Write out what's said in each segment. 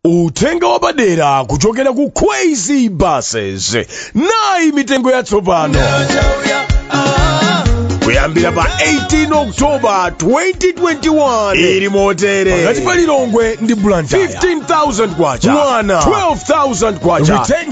uthenga wapadera kuchokera ku kwezy buses nayi mitengo yatsopano kuyambira pa 18 oktoba 2021 ili motere pakati pa lilongwe ndi blantyre 15000 kwacha mwana 12000 kwacha return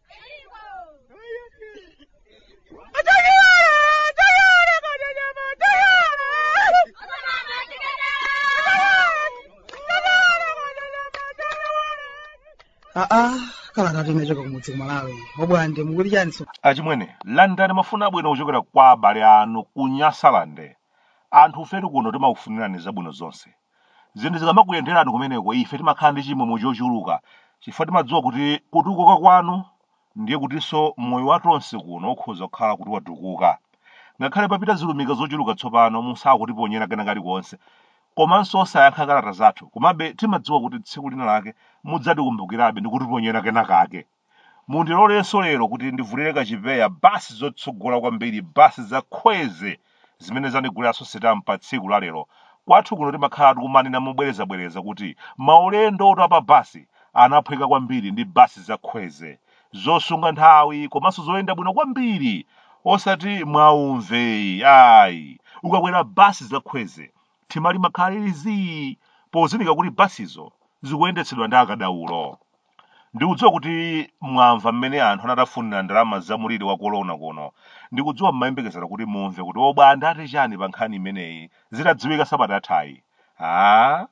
aa kalatatu inachoka kumudzi kumalawi obwande mukuti chani so achimwene landani mafuna abwino kuchokera kwa abale anu ku nyasalande anthu ifetu kuno timakufunirani zabwino zonse zinthu zikamakuyenderani kumeneko ife timakhala ndi chimwemwe chochuluka chifukwa timadziwa kuti kutukuka kwanu ndiye kutinso moyo wa tonse kuno ukhoza kukhala kuti watukuka ngakhale papita zilumika zochuluka tsopano musakutiponyera kena kalikonse komanso osayankha kalata zathu komabe timadziwa kuti tsiku lina lake mudzatikumbukirabe ndi kutiponyera kena kake Mundilolenso lero kuti ndivulire kachipewa basi zotsogola kwambiri basi za khweze zimene zandiguliranso sitampa tsiku la lero. Kwathu kuno timakhala tikumanena mobwerezabwereza kuti maulendotu a pa basi anaphweka kwambiri ndi basi za khweze zosunga nthawi komanso zoyenda bwino kwambiri osati mwaumve ayi ukakwera basi za khweze thima limakhala lili zii pozindikira kuti basizo zikuyendetsedwa ndi akadaulo ndikudziwa kuti mwamva mmene anthu anatafunira ndalama za muliri wa kolona kuno ndikudziwa mmayembekezera kuti mumve kuti obwande ati chani pa nkhani imeneyi zitadziwika sabata yathayi a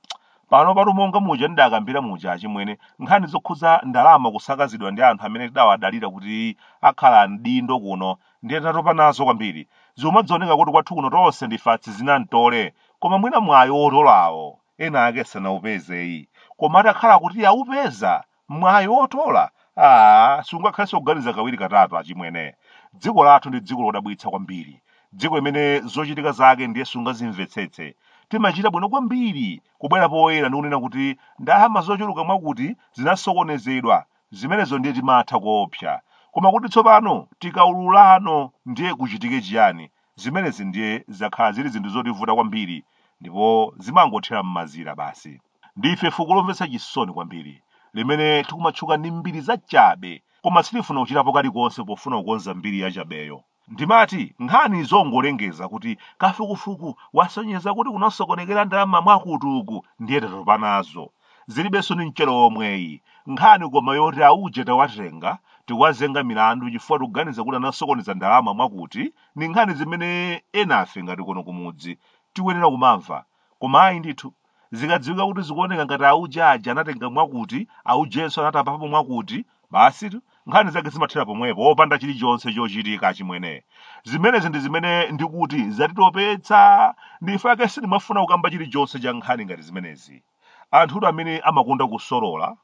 pano patu monga muja ndidakambira muja achimwene nkhani zokhuza ndalama kusakazidwa ndi anthu amene tidawadalira kuti akhala mdindo kuno ndiye tatopa nazo kwambiri zomadzioneka kuti kwathu kuno tonse ndife atsizinamtole koma mwina mwayi otolawo ena ake sanaupezeyi koma atakhala kuti aupeza mwayi otola aa sungakhalenso kuganiza kawiri katatu achimwene dziko lathu ndi dziko lodabwitsa kwambiri dziko limene zochitika zake ndiye sungazimvetsetse timachita bwino kwambiri kubwera poyera ndi kunena kuti ndalama zochuluka mwakuti zinasokonezedwa zimenezo ndiye timatha koopsa koma kuti tsopano tikaululano ndiye kuchitike chiyani Zimenezi ndiye zakhala zili zinthu zotivuta kwambiri ndipo zimangothera m'mazira basi. Ndife fuko lomvetsa chisoni kwambiri limene tikumatchuka ndi mbiri zachabe koma sitifuna kuchitapo kalikonse pofuna kukonza mbiri yachabeyo. Ndimati nkhani zongolengeza kuti kafukufuku wasonyeza kuti kunasokonekera ndalama mwakuti uku ndiye tatopa nazo. zilibenso ni mchere omweyi nkhani koma yoti auje tawatenga tikuwazenga milandu chifukwa tikuganiza kuti anasokoneza ndalama mwakuti ni nkhani zimene enafe ngati kuno kumudzi tikuyenera kumamva koma ayi ndithu zikadziwika kuti zikuoneka ngati auje aja anatenga mwakuti aujenso anatapapo mwakuti Basitu, nkhani zake zimathera pomwepo opanda chilichonse chochitika achimwene. Zimenezi ndi zimene ndikuti zatitopetsa. Ndife ake sitimafuna kukamba chilichonse cha nkhani ngati zimenezi. Anthutu amene amakonda kusolola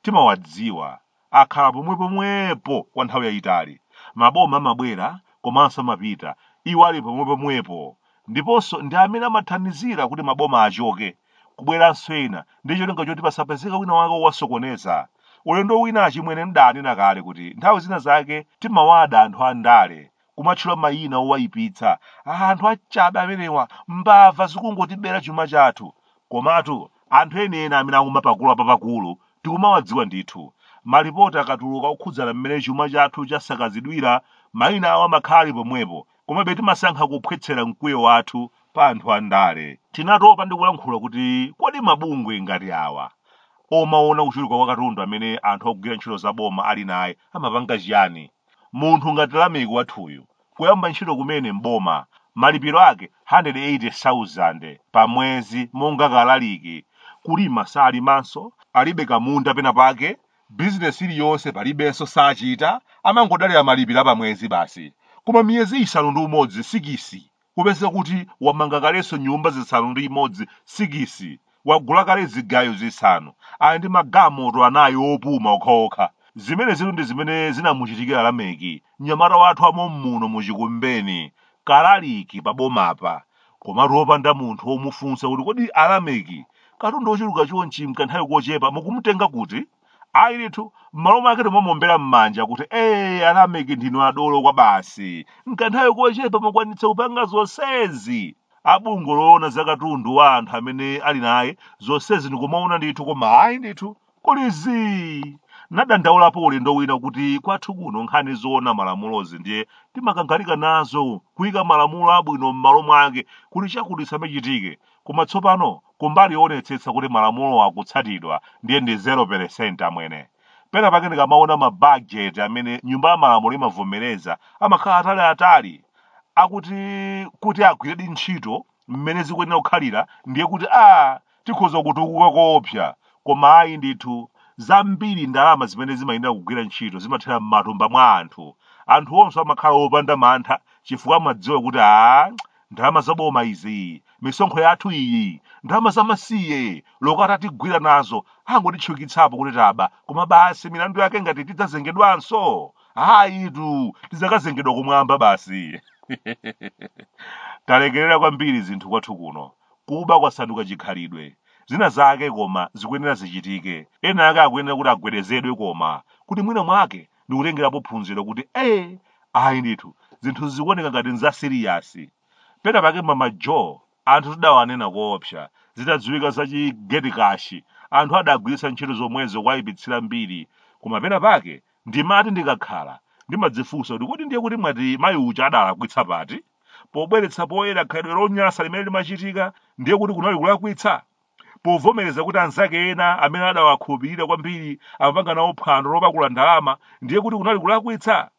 timawadziwa. Akhala pomwepomwepo kwa nthawi yayitali. Maboma amabwera komanso amapita. Iwo ali pomwepomwepo. Ndiponso ndi amene amathandizira kuti maboma achoke. kubweranso ena ndi cholinga choti pasapezeka wina wake owasokoneza ulendo wina achimwene mdanena kale kuti nthawi zina zake timawada anthu a ndale kumatchula mayina owayipitsa anthu achabe amenewa mbava zikungotibera chuma chathu komatu anthu enieni amene akumapakula papakulu tikumawadziwa ndithu malipoti akatuluka okhudzana mmene chuma chathu chasakazidwira mayina awo amakhala ali pomwepo Komabe timasankha kuphwetsera mkwiyo wathu pa anthu andale. Tinatopa ndi kulankhula kuti kodi mabungwe ngati awa omaona kuchuluka kwa katundu amene anthu akugwira ntchito za boma ali naye amapanga chiyani? Munthu ngati Lameki wathuyu kuyamba ntchito kumene m'boma malipiro ake 180,000 pa mwezi monga kalaliki, kulima salimanso, alibe kamunda pena pake bizinesi iliyonse palibenso sachita amangodalira malipiro apamwezi basi koma miyezi isanu ndi umodzi sikisi kupeza kuti wamanga kalenso nyumba zisanu ndi imodzi sikisi wagula kale zigayo zisanu ali ndi magalimoto anayi opuma okhaokha zimenezitu ndi zimene zinamuchitikira lameki mnyamata wathu wa mommuno muchikumbeni kalaliki pa bomapa komatu opanda munthu womufunsa kuti kodi alameki katundu wochuluka chonchi mkanthawi kochepa mukumutenga kuti ayi ndithu m'malo mwake timamuombera m'manja kuti ee alameki ndinu adolo kwabasi mkanthawi kochepa mwakwanitsa kupanga zonsezi a bungwe loona za katundu wa anthu amene ali naye zonsezi ndikumaona ndithu koma ayi ndithu kuli zii nadandaulapo ulendo wina kuti kwathu kuno nkhani zoona malamulozi ndiye timakangalika nazo kuyika malamulo abwino m'malo mwake kuti chakuti chisamachitike koma tsopano kumbali yoonetsetsa kuti malamulo akutsatidwa ndiye ndi 0% amwene pena pake ndikamaona mabajeti amene nyumba ya malamulo imavomereza amakhala ataliatali akuti kuti agwiredi ntchito mmene zikuyenera kukhalira ndiye kuti a tikhoza kutukuka koopsa koma ayi ndithu zambiri ndalama zimene zimayenera kugwira ntchito zimathera m'matumba mwa anthu anthu onse amakhala opanda mantha chifukwa amadziwa kuti a ndalama zaboma izi misonkho yathu iyi ndalama zamasiye loko atatigwira nazo angotitchukitsapo kuti taba koma basi milandu yake ngati tidzazengedwanso ayitu tidzakazengedwa kumwamba basi talekerera kwambiri zinthu kwathu kuno Kuba kwasanduka chikhalidwe. Zina zake koma zikuyenera zichitike. Ena ake akuyenera kuti agwedezedwe koma kuti mwina mwake ndikutengerapo phunziro kuti ee ayi ndithu zinthu zikuoneka ngati nzasiriyasi. Pena pake Mama Jo anthu tidawanena koopsa zitadziwika za chi gate cash anthu adagwiritsa ntchito zomwezo kuwayipitsira mbiri koma pena pake ndimati ndikakhala ndimadzifunsa kuti kodi ndiyetu mwati mayi uja adalakwitsa pati? pobweretsa poyera khalidwe lonyansa limene limachitika ndiye kuti kunali kulakwitsa povomereza kuti anzake ena amene adawakhulupirira kwambiri amapanga nawo phwando lopakula ndalama ndiye kuti kunali kulakwitsa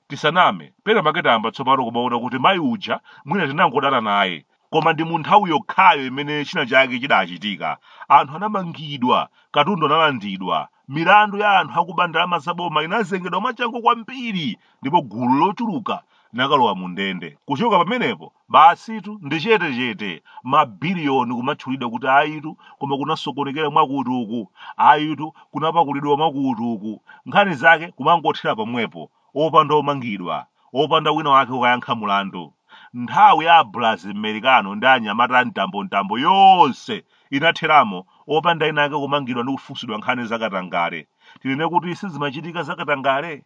tisaname pena pake tayamba tsopano kumaona kuti mayi uja mwina tinangodana naye koma ndi mu nthawi yokhayo imene china chake chidachitika anthu anamangidwa katundu analandidwa milandu ya anthu akuba ndalama za boma inazengedwa mwachangu kwambiri ndipo gulu lochuluka nakalowa mu ndende kuchoka pamenepo basitu ndi chetechete mabiliyoni kumatchulidwa kuti ayitu koma kunasokonekera mwakuti uku ayitu kunapakulidwa mwakuti uku nkhani zake kumangothera pomwepo opanda omangidwa, opanda wina wake kukayankha mulandu. Nthawi ya a Brazili Merekano ndi anyamata a mtambo mtambo yonse inatheramo opanda ena ake kumangidwa ndi kufunsidwa nkhani za katangale. Tinene kuti sizimachitika za katangale?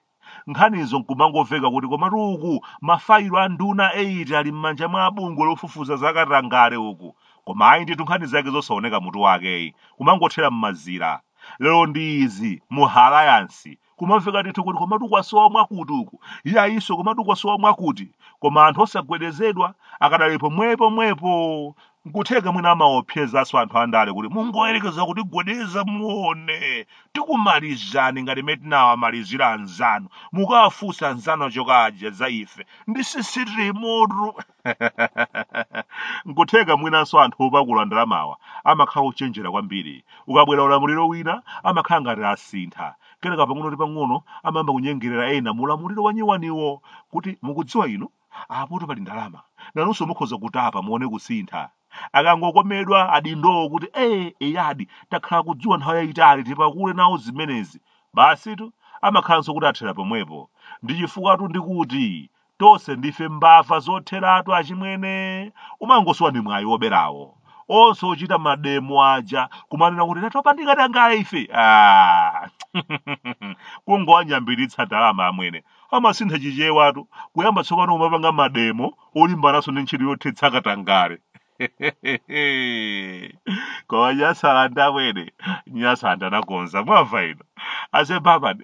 Nkhanizo nkumangomveka kuti komatu uku mafayilo a nduna 8 ali m'manja mwa abungwe lofufuza za katangale uku. Koma ayi ndithu nkhani zake zosaoneka mutu wakeyi, kumangothera m'mazira. Lero ndi izi mu ha Alayansi, kumamveka ndithu kuti komatu kwasowa mwakuti uku iyayinso komatu kwasowa mwakuti koma anthu osagwedezedwa akadali pomwepo mwepo nkutheka mwina amaopsezanso anthu andale kuti mungoyerekeza kutigwedeza muone tikumalizani ngati mmene tinawamalizira anzanu mukawafunsa anzanu achoka aja za ife ndi sisitimu yamoto nkutheka mwinanso anthu opakula ndalamawa amakhala ochenjera kwambiri ukabwera ulamuliro wina amakhala ngati asintha kenaka pang'ono ndi pang'ono amayamba kunyengerera ena mu ulamuliro wanyiwaniwo kuti mukudziwa inu apoto pali ndalama nanunso mukhoza kutapa muone kusintha akangokomedwa adindowo kuti ee eyadi takhala kudziwe nthawi yayitali tipakule nawo zimenezi basitu amakhalanso kuti athera pomwepo ndi chifukwa tu ndikuti tonse ndife mbava zotheratu achimwene umangosowa ndi mwayi woberawo onse ochita mademo aja kumanena kuti tatopa ndi katangale ife kungowanyambiritsa ndalama amwene amasintha chichewatu kuyamba tsopano kumapanga mademo olimbananso ndi ntchito yothetsa katangale koma nyasalande amwene nyasalande anakonza mwamva ino ase baba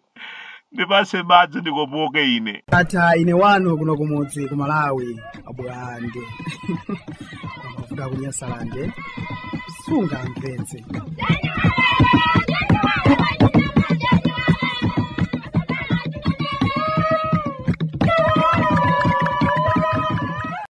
ndipatse madzi ndikopoke ine ata ine wanu kuno kumudzi ku malawi abwande kuda kunyasalande sungamvetse